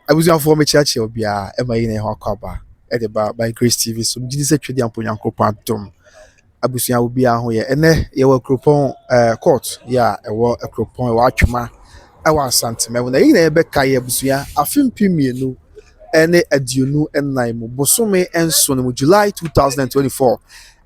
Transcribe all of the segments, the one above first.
abusuafoɔ mekyeakyea obiara ɛma yi na ɛho akɔ aba ɛde ba by grace tv so megye di sɛ twɛdi ampo nyankopɔn adom abusua obiara ho yɛ ɛnɛ yɛwɔ akuropɔn ɛɛ eh, court yɛ a ɛwɔ akuropɔn ɛwɔ atwema ɛwɔ asantema mu na yɛn nyinaa yɛbɛka yɛ abusua afe mpem mmienu ne aduonu nnan mu bosome nson mu july two thousand and twenty four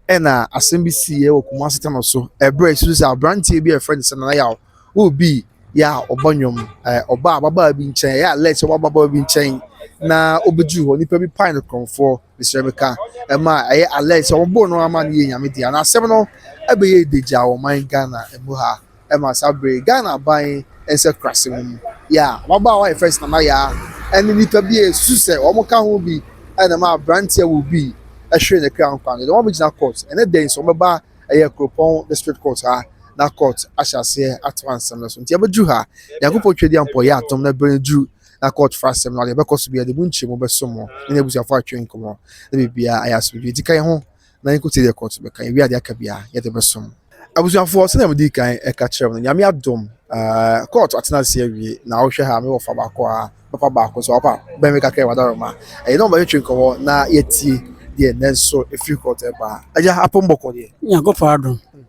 ɛna asɛm bi si yɛ wɔ kumasi tɛnɛ so ɛbrɛ esu sɛ aberanteɛ bi a yɛfrɛ no sɛ nana yaw obi yɛ a ɔbɔ nnwom ɛɛ ɔbaa ababaa bi nkyɛn ɛyɛ alɛ sɛ ɔbɔ ababaa bi nkyɛn na obeduru hɔ nipa bi pan ne kɔnfoɔ mesrɛ mi ka ɛma ɛyɛ alɛ sɛ ɔbɔ no ama no yɛ nyame deɛ na asɛm no ɛbɛyɛ edegya wɔ man ghana ɛmu ha. ma saa bere yi. Ghana aban nsakurase mu no, Yaa, ababaawa a wɔfrɛ no Nana Yaa ne nnipa bi a esusuw sɛ wɔka ho bi na ɛmaa aberante a owui hweree ne kra nkwa no de wɔn abegyina kɔɔt. Ɛnnɛ da yi nso, wɔbɛba ɛyɛ Kuropɔn District Court ha na kɔɔt ahyɛ aseɛ atoa nsɛm no so. Nti abɛduru ha, Nyankopɔn Twadiampɔ yɛ adom na bere no duru na kɔɔt fa asɛm no a, deɛ ɛbɛkɔ so biara, yɛde mu nkyerɛmu bɛso mo ne n'abusuafo atwe nkɔmmɔ na biribiara ayɛ asomdwoe. Nti ka yɛn ho. na yɛnkɔ tiri yɛkɔ to bɛka yɛwie adeɛ aka biara yɛde bɛsom abusuafoɔ sɛdeɛ mede kan ɛka kyerɛ mu no nyame adom ɛɛ kɔɔto atena ase awie na wohwɛ ha me wɔ fa baako a papa baako so papa bɛn me kakra ɛwɔ adaroma ɛyɛ na ɔbɛtwetwe nkɔmɔ na yɛtie deɛ nanso ɛfiri kɔɔto ɛbaa agya apɔmbɔkɔ deɛ nyankopɔn adom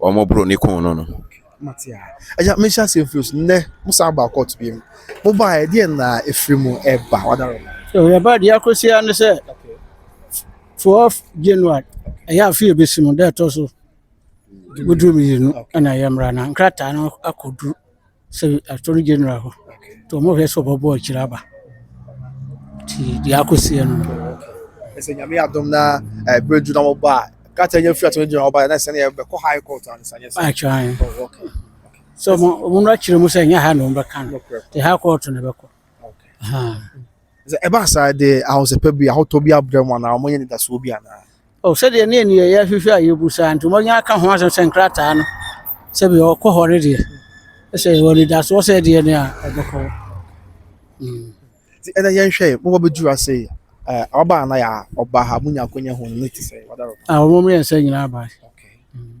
wɔn boro ne kun no no. Mate a. Agya, menhyɛ aseɛ mfiri so. Nnɛ, mo san baa kɔɔto bio. Mo baeɛ, deɛ na ɛfiri mu ɛba? Wada rɔ. So yɛba deɛ akɔsi ara ne sɛ, 4 January, ɛyɛ afe a ɛbɛsi mu, da ɛtɔ so woduru mmienu na yɛmmra na nkrataa no akɔduru sɛ attorney general hɔ nti ɔmo hwɛ sɛ ɔbɛ bɔ akyire aba nti deɛ akɔ si no no. ɛsɛ nyame adom na ɛbɛ du na wɔba a kata nya firi attorney general wɔba na ɛsɛ ne ɛbɛkɔ high court ansa nyɛ sɛ atwan oh, okay. sɛ ɔmo no akyerɛ mu sɛ ɛnyɛ ha na ɔmo bɛka no te high court na ɛbɛkɔ okay. Sɛ ɛba saa a, ɛde ahosɛpɛ bi, ahotɔ bi abrɛ mo anaa moanya anidasoɔ bi anaa? O, sɛdeɛ ne nneyɛeɛ hwehwɛ a yɛbu saa nti, moanya aka ho asɛm sɛ nkrataa no, sɛdeɛ ɔkɔ hɔ no deɛ, sɛ yɛwɔ anidasoɔ sɛ ɛdeɛ ne a, ɛbɛkɔ hɔ. Mm. Nti ɛnɛ yɛnhwɛ, mobɔ bɛduru ase yi, eh, ɔba anaa yɛ a, ɔba ha, monya akwanya hu no, ne te sɛ, wadaro. A, wɔn mmiɛnsa nyinaa baa. Okay. Mm.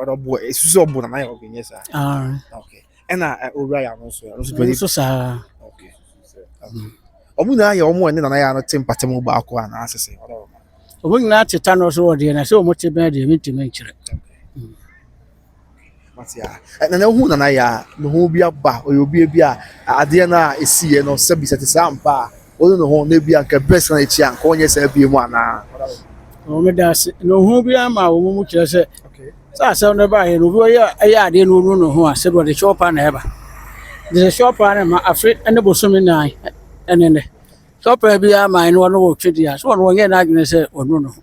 ɔdɔ bɔ esu sɛ ɔbɔ nana yɛ ɔkè nyɛ saa okay ɛna owura yɛ ano nso yɛ nso dɔli nso saa okay ɔmo nyinaa yɛ ɔmo ɛne nana yɛ ano te mpate mu baako a na asese ɔdɔ ɔmo ɔmo nyinaa te ta no so wɔ deɛ na sɛ ɔmo te bɛn deɛ mi ntumi nkyerɛ nana ehu nana yɛ a ne ho bi aba ɔyɛ obi bi a adeɛ no a esi yɛ no sɛbi sɛ te saa mpa a. Ɔnu ne ho na ebia anka ɛbɛ san akyi a, anka ɔnyɛ saa bie mu anaa? Ɔwɔ me da ase. Na ohun bi ama wɔn mu kyerɛ sɛ, sɛ asɛm no ba yɛ no, obi ɔyɛ ɛyɛ adeɛ na ɔnu ne ho a, sɛ ɔde shɔpa na ɛba. Deɛ shɔpa no ma afe ne bosome nan ɛne nɛ. Shɔpa bi ama ɛne ɔno wɔ twɛ di a, sɛ ɔno ɔnyɛ n'adwene sɛ ɔnu ne ho.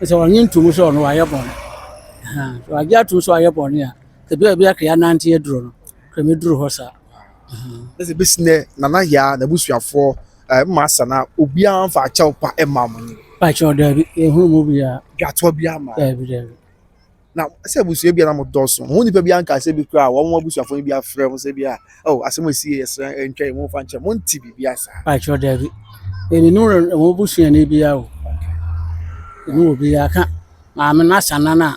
Sɛ ɔnye ntum sɛ ɔno ayɛ bɔne. Sɛ ɔagye atum sɛ ɔayɛ bɔne a, ebi a ebi akɛyɛ anante aduro no, kɛmɛ duru hɔ saa. ɛsɛ bɛsi nɛ nana yaa n'abusuafoɔ mmaa sa na obiara mfa akyɛw pa mma mo ni. pakyɛw daabi ehunu mu biara. dwatoɔ biara ma. daabi daabi. na sɛ abusua bi a na mo dɔɔso mo nipa bi anka sɛ bi kura wɔn mo abusuafoɔ bi afrɛ mo sɛ bi a oh asɛm esi yɛ srɛ ntwa yɛ mo nfa nkyɛn mo nti bi bi asa. pakyɛw daabi ɛni nu wɔn abusuani biara o ɛni wɔ biara ka maame n'asa nana.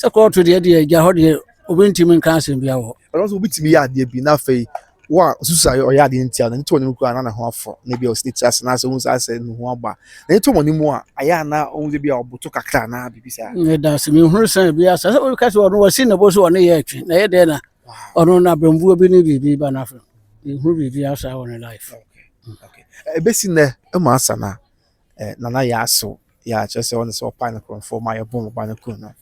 Sɛ kɔɔto deɛ deɛ agya hɔ deɛ obi ntumi nka asɛm bi awɔ. Ɛno nso obi tumi yɛ adeɛ bi na afei wo a osusu ayɛ ɔyɛ adeɛ ntia na nti ɔnim kura na ne ho afɔ na ebi a ɔsi ne ti ase na asɛ ohun sɛ asɛ ne ho aba na eto wɔn mu a ayɛ ana ohun sɛ bi a ɔboto kakra na bibi saa. Ne da se mi hunu sɛ bi asa sɛ obi kasi ɔno wasi ne bo so ɔne yɛ atwi na yɛ dɛ na ɔno na bɛnbuo bi ne biribi ba n'afɛ ehunu biribi asa wɔ ne life. Okay. Okay. Ebesi nɛ ɛma asa na. eh, Nana Yaaso, ya kyerɛ sɛ ɔne sɛ ɔpae no korɔmfoɔ ma yɛbom ɔba no kun no.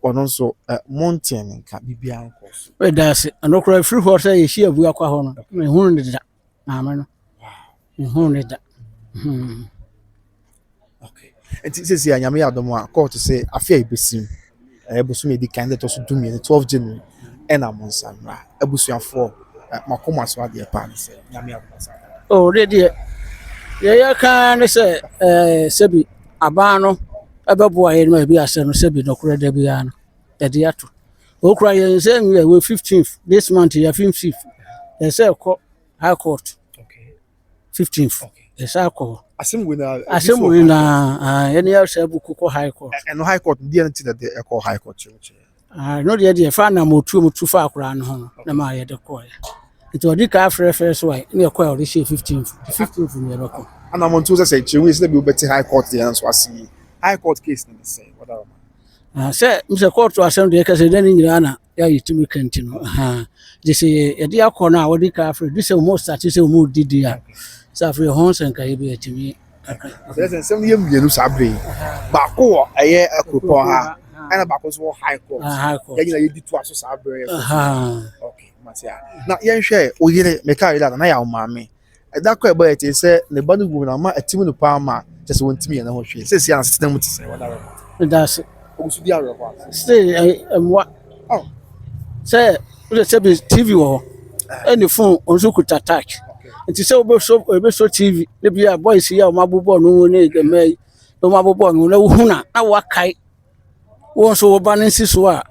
Ɔno nso, eh, montee ne nka, biribiara nkɔɔ so. Meda ase. Ɛno koraa ɛfiri hɔ sɛ yɛhyia abu akwa hɔ no, mehunu ne da, maame no. Mehunu ne da. Hmm. Okay. Nti sɛsi a Nyame yɛ adom a, kɔɔto sɛ afe a ɛbɛsim. Ɛyɛ bosome a ɛdi kan, ɛda a ɛtɔ so dumienu, twelve January, ɛna monsa mmra. Abusuafoɔ, ɛ, makoma so adeɛ paa ne sɛ, Nyame adom asa aka. Oh, deɛ deɛ, deɛ yɛka ara ne sɛ, ɛɛ, sɛbi aban no ɛbɛboa yɛn ma ebi asɛ no sɛbi nokorɛ da biara no, ɛde ato. Okura yɛn sɛ nwia wɔ fifteenth this month yɛ fifteenth, ɛsɛ ɛkɔ high court. 15th yɛsan kɔ hɔ asɛm wei na asɛm wei na yɛne yɛ sɛ buku kɔ high court ɛno high court deɛ no ti na deɛ ɛkɔ high court ɛno deɛ deɛ fa nam ɔtuo mu tu fa akoraa no ho no na ma yɛde kɔɛ nti ɔde ka afrɛ fɛ so a ne ɛkɔ a ɔde hyɛ 15th 15th ne yɛbɛkɔ anamɔntuo sɛ sɛ kyerɛ wei sɛ bi wobɛte high court deɛ nso ase high court case no ne sɛ wɔda Ahaa, sɛ sɛ kɔɔto asɛm deɛ kɛsɛ dɛ ne nyinaa na yɛayɛ tumi ka nti no ahaa gye sɛ yɛde akɔ no a wɔde ka afei de sɛ wɔn sate sɛ wɔn didi a sɛ afei ho sɛ nka yɛbi atumi aka. Sɛ sɛ nsɛm yɛ mmienu saa bere yi baako wɔ ɛyɛ akuropɔn ha ɛna baako nso wɔ high court yɛn nyinaa yɛdi to aso saa bere yɛ. Okay, mate a. Na yɛnhwɛ oyere meka yere a na yɛ awo maame. Ɛda koro a ɛbɔ yɛ tee sɛ ne ba no wu na ama atim no paa ma kyerɛ sɛ wɔntumi nyɛ ne ho hwee. Seesei asetena mu te sɛn? Wada awerɛhow? Meda ase. Ogu so di awerɛhow anaa? Seesei ɛyɛ mmoa. Oh. Sɛ wode sɛ bi TV wɔ hɔ ɛne phone wɔn nso kuta touch. Nti sɛ wobɛsɔ wobɛsɔ TV ne bi a boys yi a wɔabobɔ no ho ne mmaa yi na wɔabobɔ no ho na wohu no a na woakae Wo nso wo ba no si so a,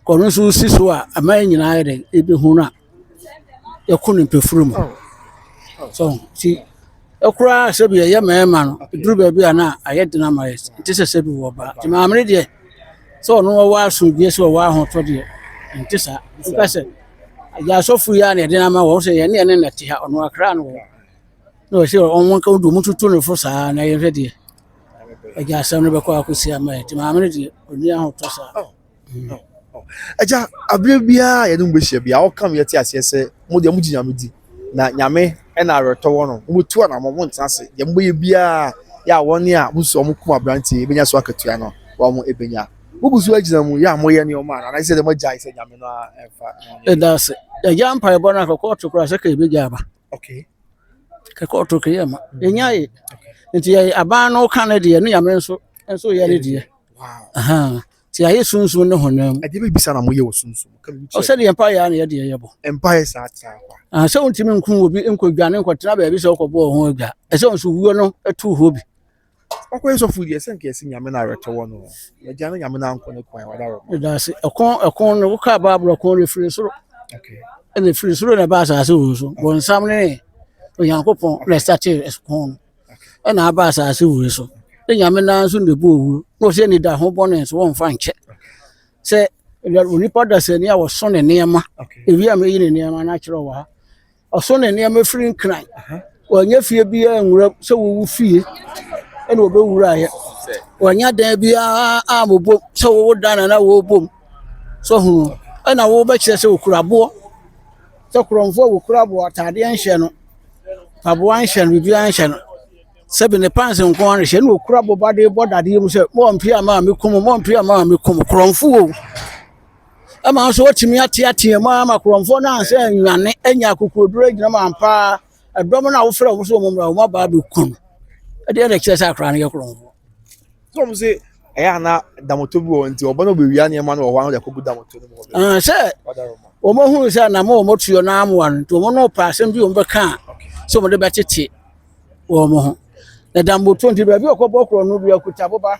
ɔno nso si so a, ɛma yɛn nyinaa yɛ dɛn? Yɛbɛhu no a, yɛkɔ ne mpofirim mu. So nti ɛkoraa sɛ bi ɛyɛ mmarima no, ɛduru baabi a na ayɛ den ama yɛn. Ɛnte sɛ sɛ bi wɔ ɔbaa. Nti maame no deɛ, sɛ ɔno ɔwɔ asomdwoeɛ sɛ ɔwɔ ahotɔ deɛ, ɛnte saa. Wopɛ sɛ agya asɔfo yi a na ɛde no ama wɔn sɛ yɛn ne yɛn ne na ɛte ha, ɔno akra no wɔ. Na ɔsɛ wɔn nka wɔn de wɔn tutu ne fo saa na yɛhwɛ deɛ. Agya asɛm no bɛkɔ akɔsi ama yɛ nti maame no deɛ ɔni ahotɔ saa. Oh, hmm. oh, oh. Agya abere biara yɛne mu bɛhyia biara ɔka me yɛte aseɛ sɛ mo deɛ mogye nyame di na nyame ɛna awerɛtɔ wɔ no mobɛtu anamɔ montena ase deɛ mobɛyɛ biara yɛ a wɔne a mosu ɔmo kum aberanteɛ ɛbɛnya so akatua no wɔn mo ɛbɛnya mogu so agyina mu yɛ a moyɛ nneɛma a anaasɛ sɛ deɛ moagyae sɛ nyame no ɛmfa ɛda ase agya mpaebɔ no akɔkɔ ɔto koraa sɛ ka ɛbɛgya aba Okay. Kɛkɛ ɔto kɛyɛ ma. Yɛnya ye. Nti yɛyɛ aban no ka no deɛ ne nyame nso nso yɛ ne deɛ. Wow. Nti ayɛ sunsun ne honam. Ɛdeɛ bɛ bisa na mo yɛ wɔ sunsun. Ɔsɛ deɛ mpa yɛ na yɛ deɛ yɛ bɔ. Mpa yɛ saa saa kwa. Ah sɛ wontumi nku obi nkɔ dwa ne nkɔ tena baabi sɛ ɔkɔ bɔ ɔho adwa. Ɛsɛ nso wuo no ɛtu hɔ bi. ɔkɔyɛ sɔfo deɛ sɛ nkeɛ sɛ nyame no awerɛtɔ wɔ no agya no nyame no ankɔ ne kwan wada wɔ ɛdanse ɛkɔn ɛkɔn no wokaa baabolo ɛkɔn no ɛfiri soro ɛna ɛfiri soro na ɛba asase wɔ so bɔnsam ne onyankopɔn na ɛsate ɛkɔn no ɛna aba asase wɔ so ne nyame naa nso na ɛbɔ owuo na ɔsɛ ne da ho bɔne nso wɔmfa nkyɛ sɛ onipa dasani a wɔso ne nneɛma ɛwi a mɛyi ne nneɛma no akyerɛ wɔ ha Ɔso ne nneɛma firi nkran. Wannya fie biara anwuram sɛ wowo fie na wɔbɛwuraeɛ. Wannya dan biara ammobom sɛ wowo dan na na wɔrebom. So ho ɛna wobɛkyerɛ sɛ ɔkura aboɔ. Sɛ korɔmfoɔ a wɔkura aboɔ ataadeɛ nhyɛ no, mpaboa nhyɛ no, biribiara nhyɛ no. Sɛ bi ne pants nko ara na ɛhyɛ na ɔkura boba de bɔ dadeɛ mu sɛ, mɔmpia maa mekum, mɔmpia maa mekum. Korɔmfoɔ o! ma wo nso woatumi ateatea mu ama korɔmfoɔ no ansɛ nnwane anya akokoɔduro agyina mu ampa ara ɛdɔm no a wofrɛ wɔn sɛ wɔn mmra wɔn abaa bɛku no ɛdeɛ na ɛkyerɛ sɛ akora no yɛ korɔmfoɔ sɔm sɛ ɛyɛ ana damoto bi wɔ nti ɔba no bɛwia nneɛma no wɔ hɔ ano de akɔgu damoto no mu ah, sɛ wɔmahunu sɛ na ma wɔmatuo no amoa no nti wɔn no pɛ asɛm bi wɔmbɛka a sɛ wɔde bɛtete wɔn ho na damoto nti baabi ɔkɔbɔ korɔ no bi akuta boba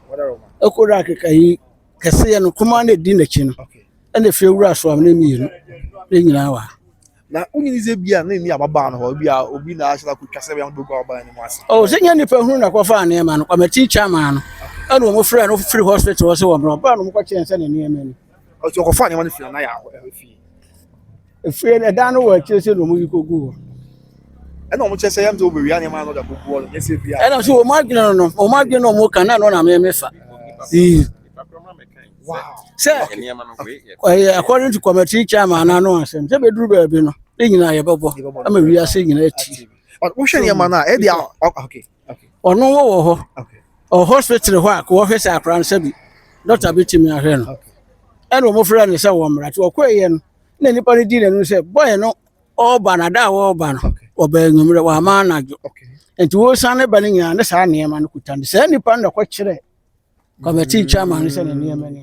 ɛkɔdɔ akekayi kɛseɛ no kumaa no ɛdi n'akyi no ɛna ɛfie wura asoam no mmienu ne nyinaa wɔ ha na wonyini sɛ bi a na ɛni ababaa no hɔ bi a obi na ahyɛ akɔtwa sɛ bɛyɛ bɛgu ababaa no mu ase ɔ sɛ nyɛ nnipa hunu na kɔfaa nneɛma no kwamati chairman no ɛna wɔn frɛ no firi hospital hɔ sɛ wɔn ɔbaa no mokɔkyɛn sɛ ne nneɛma ni ɔtɔ ɔkɔfa nneɛma no fi na yɛ ahɔ fie efie no ɛdan no wɔ akyire sɛ na wɔn yi kogu hɔ ɛna wɔn kyɛ sɛ yɛn nso wɔbɛwia nneɛma no da kogu hɔ no yɛ sɛ bia ɛna nso wɔn adwene no no wɔn adwene no wɔn ka na ɛno na mɛ mɛ fa ee sɛ ɛyɛ according to committee chairman na ano asɛm sɛ bɛduru baabi no ne nyinaa yɛbɛbɔ ama wiase nyinaa ti wohwɛ nneɛma no a ɛde a okay Ɔno wɔ wɔ hɔ. Ɔ hospital hɔ a wɔhwɛ sɛ akwadaa no sɛ bi dɔkta bi tumi ahwɛ no. Ɛna wɔn frɛ no sɛ wɔn mmara. Nti ɔkɔeɛ no na nipa no di n'anim sɛ bɔyɛ no ɔreba no ada a ɔreba no ɔbaa anwummerɛ wama anadwo. Nti wɔsan ne ba no nyinaa ne saa nneɛma no kuta no. Saa nipa no na ɛkɔkyerɛ kɔmɛtee chairman no sɛ ne nneɛma ni.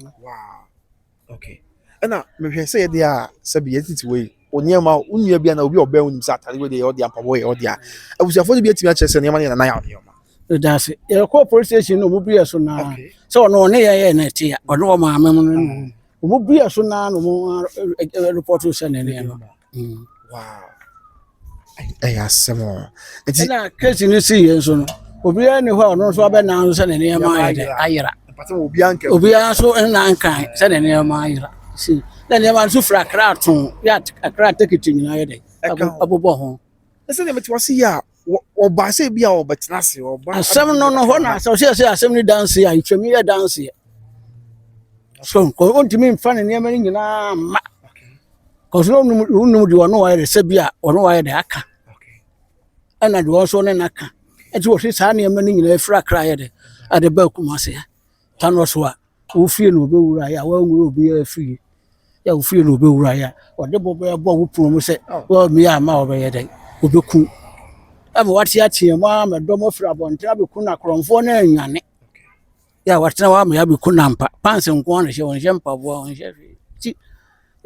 Okay. Ɛna mehwɛ sɛ yɛde a sɛbi yɛde tete wei o nneɛma wo nua bi na obi ɔbɛn wo nim sɛ atade wei deɛ yɛ ɔde a mpaboa yɛ ɔde a abusuafoɔ no bi atumi akyerɛ sɛ nneɛma no yɛ nana yɛ nneɛma ɛdaase yɛkɔɔ police station no ɔmo bia so naa sɛ ɔno ɔne yɛ yɛ na ɛte a ɔne ɔmaame mu no ɔmo bia so naa na ɔmo report sɛ ne nneɛma Mm. Wow. Ɛyɛ asɛm o. Nti ɛna keesi no si yɛn so no obiara ni hɔ a ɔno nso abɛnan sɛ ne nneɛma ayɛ dɛ ayera. Obiara nso nna nkan sɛ ne nneɛma ayera. Si na nneɛma nso fira akra ato yɛ akra tekiti nyinaa yɛ dɛ abobɔ ho. Ɛsɛ deɛ mete wase yɛ a wɔbaa sɛ bi a wɔbɛtena ase wɔba asɛm no no hɔ na asɛm sɛ sɛ asɛm no danse a ɛtwam yɛ danseɛ so ɔntumi mfa ne nneɛma no nyinaa mma kɔso na wonom deɛ ɔno wayɛ de sɛ bi a ɔno wayɛ de aka ɛna deɛ ɔnso ne naka ɛnti wɔhwe saa nneɛma no nyinaa ɛfiri akra yɛ de ɛde ba akuma aseɛ ta no so a Wo fie na ɔbɛwura yɛ a woanwura obiara fie yɛ a wo fie na ɔbɛwura yɛ a ɔde bo bɛbɔ wo pono mu sɛ woammue amma a ɔbɛyɛ dɛn ɔbɛku wo ama woateateam ara ma dɔm afiri abɔnten abɛku no akorɔmfoɔ no anwane yɛ a watena hɔ ama yɛabɛku no ampa pants nko ara na ɛhyɛ ɔnhyɛ mpaboa ɔnhyɛ hwee nti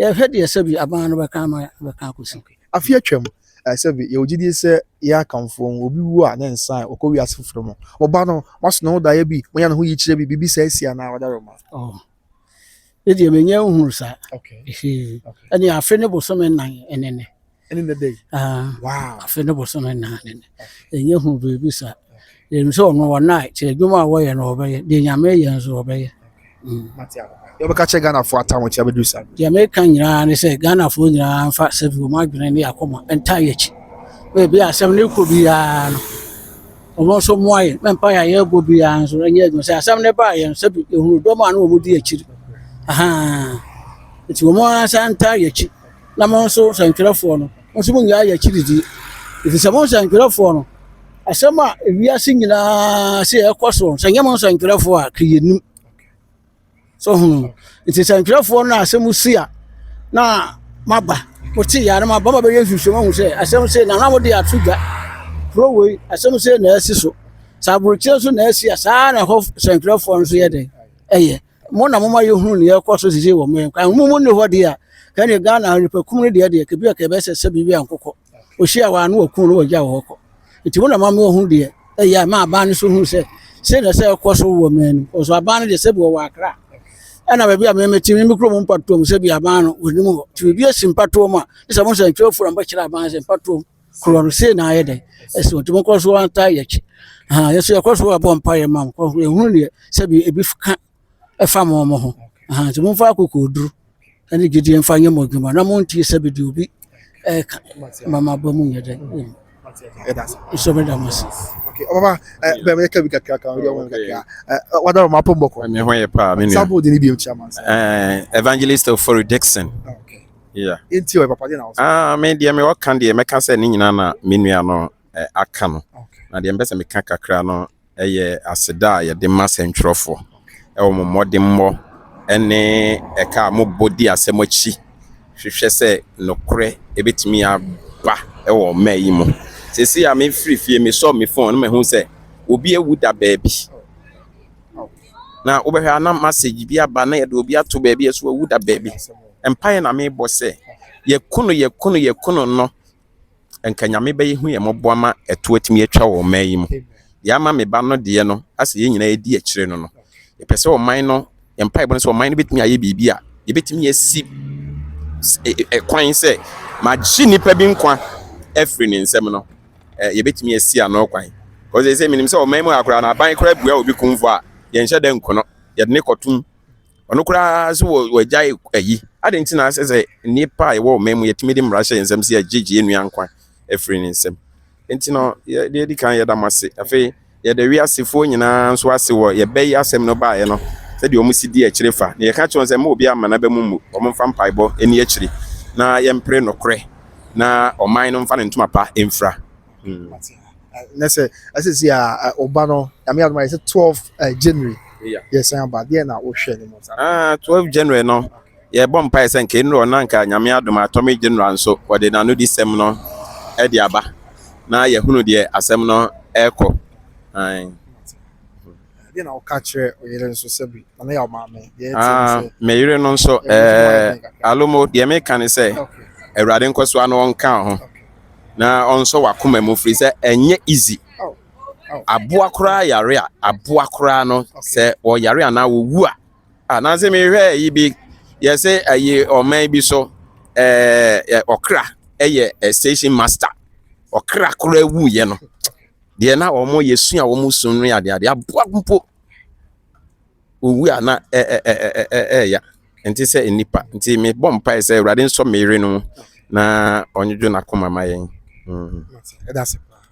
Yɛhwɛ deɛ sɛbi aban no bɛka ama bɛka akɔsi. Afe atwam, eh, sɛbi yɛwɔ gyidie sɛ yɛn akamfoɔ mu, obi wu a ne nsa a ɔkɔ wiase foforɔ mu. Wɔba no, wɔaso ne ho daeɛ bi, wɔnya ne ho yikyerɛ bi, biribi saa si anaa ɔdaroma. Oh, ne deɛ menya nhunu saa. Okay. Ɛne afe ne bosome nnan ɛnene. ɛne nnɛ da yi ah, afe ne bosome nnan ne nnɛ ɛnyɛ hu biribi saa yɛnim sɛ ɔno wɔ nae kyɛ adwuma a wɔyɛ no wɔbɛyɛ deɛ nyame yɛ nso wɔbɛyɛ mm. yɛbɛka kyerɛ ghanafoɔ atahokyɛ bɛdu sa deɛ meka nyinaa ne sɛ ghanafoɔ nyinaa mfa sɛ bi wɔma adwene ne akoma ɛnta yɛkyi baabi a asɛm no kɔ biara no ɔmo nso mmoa yɛ mɛmpa yɛ ayɛ bɔ biara nso ɛnyɛ adwuma sɛ asɛm no baa yɛn sɛ bi ɛhunu dɔm a ne wɔmodi akyiri ahaa nti wɔn ara nsa nta yɛkyi na mo nso sɛnkyerɛfoɔ no, mo nso monnyae yɛn akyiri die. Ɛfiri sɛ mo nsɛnkyerɛfoɔ no, asɛm a ewiase nyinaa se ɛkɔ soɔ, sɛ nyɛ mo nsɛnkyerɛfoɔ a, ka yɛnnim. So hunu? Nti sɛnkyerɛfoɔ no a asɛm si a, na maba, mote yɛ na maba ma bɛyɛ nhwehwɛmu ahu sɛ asɛm se na na mode ato dwa. Kuro wei, asɛm se na ɛsi so. Sɛ aborokyerɛ nso na ɛsi a, saa na ɛhɔ sɛnkyerɛfoɔ no nso yɛ dɛn ɛyɛ. Mo na moma yɛhunu nea ɛrekɔ so sisi wɔ mo yɛn kwan mu. Mo nni hɔ deɛ a, ɛne Ghana nnipakum no deɛ deɛ, kebi a kɛbɛ sɛ sɛ biribi ankokɔ. Ɔhyia wɔ ano wɔkum no wɔgya wɔ hɔ kɔ. Nti mo na mama yɛhunu deɛ ɛyɛ a ɛma aban no so hunu sɛ sei na ɛsɛ ɛkɔ so wɔ man no. Wɔso aban no deɛ sɛ bi wɔwɔ akra ɛna baabi a memete me mekuro mu mpatoɔ mu sɛ bi aban no wɔnim hɔ. Nti biribi asi mpatoɔ mu a, ne sɛ mo nsɛntwerɛfoɔ na mobɛkyerɛ aban sɛ mpatoɔ mu. korɔ no sei na ayɛ dɛ ɛsɛ nti mo kɔ so antaa yɛ akyi ahan yɛsɛ yɛkɔ so abɔ mpa yɛ ma mo kɔ yɛ hunu deɛ sɛbi ebi ka ɛfa mo mo ho ahan nti mo nfa akoko duru ɛne gyidie nfa nyɛ mo adwuma na mo ntie sɛbi deɛ obi ɛka ma mo abɔ mu nyɛ dɛ nso mo da mo ase. ɔbaba ɛ bɛn bɛ kɛ bi kakra kan ɔyɛ wɔn kakra ɛ wadara ɔmo apɔ mbɔkɔ. ɛmi ho yɛ paa mi nua. sábò di ni bi o kyi ama. evangelist ofori dixon. Yeah. Enti ɔyɛ papa deɛ na ɔsɛ. Ah, me deɛ me ɔka deɛ mɛka sɛ ne nyinaa na me nua no eh, aka no. Okay. Na deɛ mpɛ sɛ meka kakra no ɛyɛ eh, aseda a yɛde ma sɛntwerɛfoɔ ɛwɔ mo mmɔdemmɔ ɛne ɛka a mobɔ di asɛm akyi hwehwɛ sɛ nokorɛ ɛbɛtumi aba ɛwɔ mma yi mu. Sɛsi a mefiri fie mesɔ me fon no mahu sɛ obi awu da baabi. Na wobɛhwɛ a na message bi aba na yɛde obi ato baabi a ɛso wawu da baabi. Mpaeɛ na mebɔ sɛ yɛku no yɛku no yɛku no no nka Nyame bɛyɛ hu yɛ mmɔbɔ ama ɛto atumi atwa wɔ ɔman yi mu. Deɛ ama me ba no deɛ no asɛ yɛn nyinaa yɛdi akyire no no. Yɛpɛ sɛ ɔman no yɛn mpaebɔ no sɛ ɔman no bɛtumi ayɛ biribi a yɛbɛtumi asi ɛkwan sɛ magye nnipa bi nkwa afiri ne nsam no. eh, yɛbɛtumi asi ano kwan kɔ sɛ sɛ menim sɛ ɔman mu a koraa no aban koraa bua obi kumfo a yɛnhyɛ dɛ nkono yɛde ne kɔtom ɔno koraa so wɔ wɔagyae ayi adɛn nti na asɛ sɛ nnipa a yɛwɔ ɔman mu yɛtumi de mmara hyɛ yɛn nsɛm sɛ yɛgyegye yɛn nua nkwa afiri ne nsɛm nti no yɛde adi kan yɛda mo ase afei Yɛda wiasefoɔ nyinaa nso ase wɔ yɛn bɛ yi asɛm no baeɛ no sɛdeɛ wɔn si di akyire fa. Na yɛka kyerɛ wɔn sɛ mma obiara mma n'aba mu mmu, wɔn mfa mpaebɔ nni akyire, na yɛmpere nokorɛ, na ɔman no mfa ne ntoma pa mfira. Hmm. na sɛ asisi a ɔba no nyame adom ayɛ sɛ 12 January yɛsan aba deɛ na wohwɛ no mu saa ah 12 January no yɛbɔ mpaeɛ sɛ nka ɛnuru hɔ na nka Nyame adom a Atomic General nso wɔde n'anodisɛm no de aba na yɛhunu deɛ asɛm no ɛrekɔ. Deɛ na woka kyerɛ oyere nso sɛ bi na yɛ ɔmaame deɛ ɛte ah, sɛ. Me yere no nso ɛɛ alomo deɛ meka ne sɛ awurade nkɔsoa no ɔnka ho na ɔnsɔ wakoma mu firi sɛ ɛnyɛ easy. Oh, oh. Aboa koraa yare a aboa koraa no sɛ wɔyare anaa wɔwu a Ah, nansi mi hwɛ yi bi yɛsɛ ɛyi ɔman bi so ɛɛ ɔkra ɛyɛ station master ɔkra koro ewu yɛ no deɛ na wɔn yɛ sua wɔn sun no yɛ adeɛ adeɛ aboa mpo owu a na ɛɛ ɛɛ ɛɛ ɛɛya nti sɛ nipa nti mi bɔ mpa yɛ sɛ awurade nsɔ mi yere no na ɔnyedwo n'akoma ma yɛn. Mm.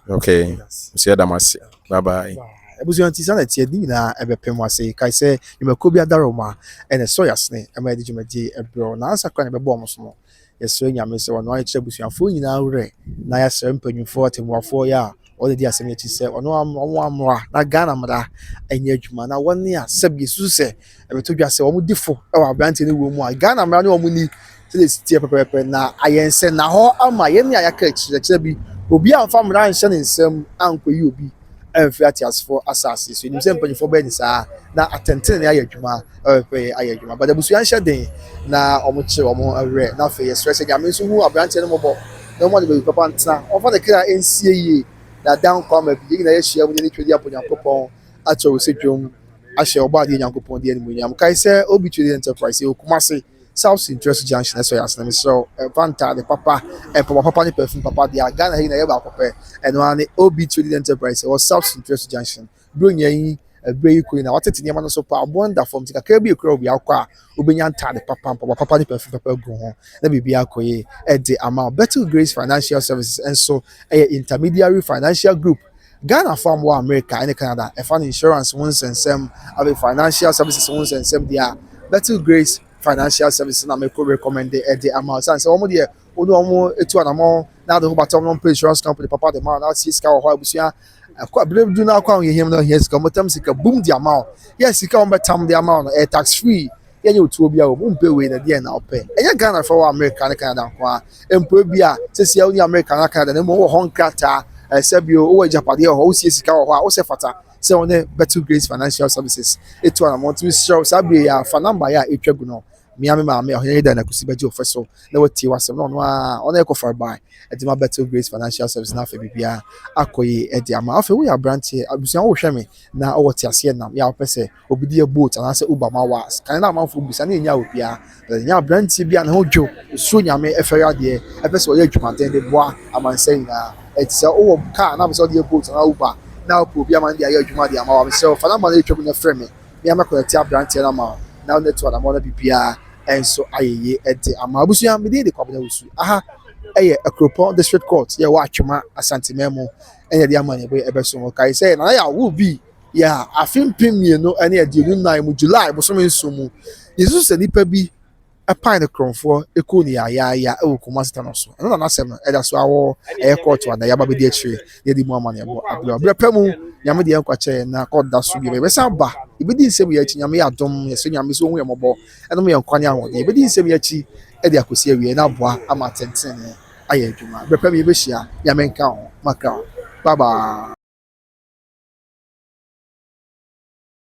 Okay, nso yɛda mo ase. Bye bye. Abusua nti saa na ɛteɛ, ne nyinaa ɛbɛpem mo ase. Kae sɛ nnwumakuo bi adare wɔn a, ɛna ɛsɔ yɛn asene ɛma yɛde dwumadie ɛbrɛ wo. Nansa koraa na ɛbɛbɔ wɔn so no, yɛsrɛ Nyame sɛ ɔno ara nkyerɛ abusuafoɔ nyinaa werɛ na yɛsrɛ mpanyinfoɔ, atɛmmuafoɔ yɛ a wɔn na ɛdi asɛm yi akyi sɛ ɔno ara mmoa wɔn mmoa na Ghana mmara ɛnyɛ adwuma na wɔn a sɛbi yɛsusu sɛ ɛbɛto dwa sɛ wɔn di fo ɛwɔ aberanteɛ no wuo mu a Ghana mmara ne wɔn ni Sɛdeɛ ɛsi teɛ pɛpɛɛpɛ na ayɛ nsɛnnahɔ ama yɛn a yɛaka akyerɛkyerɛ bi, obi amfa mmara anhyɛ ne nsam ankɔyi obi amfiri ateasefoɔ asase so. Yɛnim sɛ mpanimfoɔ bɛyɛ ne saa na atɛntenenee ayɛ adwuma, pɛpɛpɛyɛ ayɛ adwuma. But abusua nhyɛ den na wɔkyere wɔn ho werɛ. Na afei yɛsrɛ sɛ Nyame nso hu aberanteɛ no mmɔbɔ na ɔmma no baabi papa ntena. Ɔmfa ne kra nsie yie na ada nkwa ama bi. Yɛn nyinaa yɛahyia mu de anitwerɛ de abɔ Nyankopɔn akyɛwsɛ dwom ahyɛ Ɔbɔadeɛ Nyankopɔn din animuonyam. Kae sɛ Obituary Enterprise, yɛwɔ Kumasi. South Sea Ntura so Junction ɛsɔ yɛn ase na mesrɛ wo ɛfa ntaade papa, mpaboa papa ne perfume papa deɛ a Ghana ha nyinaa yɛ baako pɛ. Ɛno ara ne OB Trading Enterprise ɛwɔ South Sea Ntura so Junction. Berɛ nyinaa yi ɛberɛ yi kɔ yi na wɔatete nneɛma no so paa, aboɔ no da fam nti kakra bi ɛkura wo biara wokɔ a wobɛnya ntaade papa, mpaboa papa ne perfume papa agu ho na biribiara akɔ yie de ama wo. Bettle Grace Financial Services nso ɛyɛ intermediary financial group Ghanafo a wɔwɔ Amerika ne Canada fa no insurance ho nsɛnsɛm, afei financial services ho nsɛnsɛm deɛ a, Bethel Grace Financial Services na mɛkɔ recommend de ama wo. Sane sɛ wɔn deɛ wo ne wɔn tu anamɔn na ade ho bata wɔn na wɔmpɛ insurance company papa de ma wo na wɔasie sika wɔ hɔ a abusua ɛkɔ abere du na akɔ ahohiahia mu na ohia sika wɔn bɛtam sika bum de ama wo. Yes, sika wɔn bɛtam de ama wo no ɛyɛ tax free. Yɛnyɛ otuo biara o, mompɛ wei na deɛn na wopɛ? Ɛnyɛ Ghana fɛ wɔ Amerika ne Canada nko ara mpo ebi a sɛsi a wonni Amerika anaa Canada na mmom wowɔ hɔ nkrataa eh, sɛ bio wowɔ agyapadeɛ wɔ hɔ, wosie sika wɔ hɔ a, wo sɛ fata sɛ wo ne Battle Grace Financial Services etu anamɔ. Nti mesrɛ wo saa bere yi a fa number yi a etwa gu no mia me maame Ɔhene Yeda Nakusi bɛgye wo fɛ so na watie w'asɛm na ɔno a ɔne ɛkɔ farebae ɛde ma Battle Grace Financial Services na afei biribiara akɔ yie ɛde ama afei woyɛ aberanteɛ abusua wohwɛ me na ɔwɔ teaseɛ nam yɛ a wopɛ sɛ Obi de yɛ bolt anaasɛ uber ma wo a, kan na amanfoɔ bisa na ɛnnya obiara. But ɛnya aberanteɛ bi a ne ho dwo, ɔsuro Nyame, ɛfɛre adeɛ, ɛpɛ sɛ ɔyɛ adwumaden de boa amansan nyinaa. Ɛnti sɛ wowɔ car na wopɛ sɛ wode yɛ bolt anaa uber na wopɛ obi ama no de ayɛ adwuma de ama wo a, mesrɛ wo fa number no a ɛretwa mu no frɛ me. Me ara mɛconnecte aberanteɛ no ama wo na wone no to anammɔn na biribiara nso ayɛ yie de ama wo. Abusua, me din de Kwabena Wusu. Aha ɛyɛ Akuropɔn District Court, yɛwɔ Atwema, Asanteman mu. Ɛna yɛde amanneɛbɔ yi bɛso wo. Kae sɛ Nana Yaw, wo bi Yɛ a, afe mpem mmienu ne aduonum nan mu July bosome nson mu, yɛsusu sɛ nipa bi pae ne korɔmfoɔ kuu no yaayaaya wɔ Kumasi Tano so. Ɛno na n'asɛm no da so ara wɔ ɛyɛ kɔɔto a na yɛaba abɛdi akyire na yɛde mu amanneɛbɔ abrɛ wo. Berɛ pa mu, Nyame de yɛn nkwa kyɛ yɛn na kɔɔto da so bio. Yɛbɛsan aba, yɛbɛdi nsɛm yi akyi, Nyame yɛ adom. Yɛsrɛ Nyame sɛ ɔnhu yɛn mmɔbɔ, ɛnom yɛn nkwa ne ahoɔden. Yɛbɛdi nsɛm yi akyi de akɔsi awieɛ na aboa ama atɛntenenee. ayɛ adwuma berɛ pa bi yɛbɛhyia nyame nka wo ho makra bye bye.